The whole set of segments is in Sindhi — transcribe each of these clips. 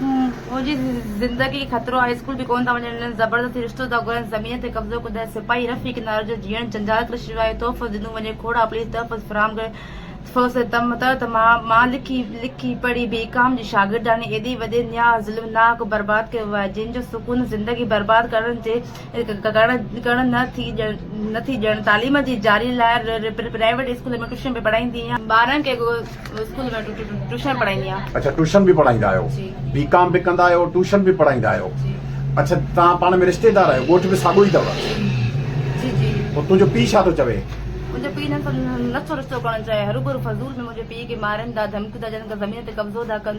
منهنجي زندگي خطرو آهي اسڪول به ڪونه ٿا وڃن هنن زبردستي رشتو ٿا گهرن زمين تي قبضو ڪندڙ سپاهي رف ئي ڪنارن جو جيئڻ جنجال ڪري ڇڏيو آهي تحفظ ڏنو وڃي کوڙا پليز تحفظ فراهم ڪري ٿو سي تم ته ته مان مان لکي لکي پڙهي بي ڪام جي شاگردياڻي ايڏي وڏي نياز ظلمناڪ برباد ڪيو آهي جنهن جو سڪون زندگي برباد ڪرڻ جي ڪرڻ نه ٿي ڏيڻ، تعليم جي جاري لاء پرائيويٽ اسڪول ۾ ٽيوشن به پڙهائيندي آهيان. ٻارن کي اسڪول ۾ ٽيوشن پڙهائيندي آهيان. اڇا ٽيوشن به پڙهائيندا آهيو. جي. بي ڪام به ڪندا آهيو ٽيوشن به پڙهائيندا آهيو. جي. اڇا توهان پاڻ ۾ رشتيدار آهيو ڳوٺ به ساڳو ئي اٿو. جي جي. پوء تنهنجو پيء ڇا ٿو چوي؟ منهنجو پيء نه ٿو رشتو ڪرڻ چاهي هروڀرو فضول ۾ منهنجي پيء کي مارين ٿا ڌمڪيون ٿا ڏين ته زمين تي قبضو ٿا ڪن.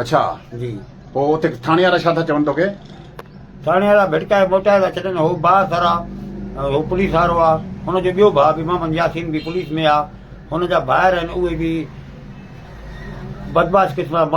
اڇا جي پوء اتي ٿاڻي وارا ڇا ٿا چون توکي؟ ٿاڻي وارا ڀٽڪائي موٽائي ٿا ڇڏن هو بااثر آ هو پوليس وارو آ هن جو ٻيو ڀاء به محمد ياسين به پوليس ۾ آ هن جا ڀائر آهن اهي به بدمعاش قسم جا ماڻهو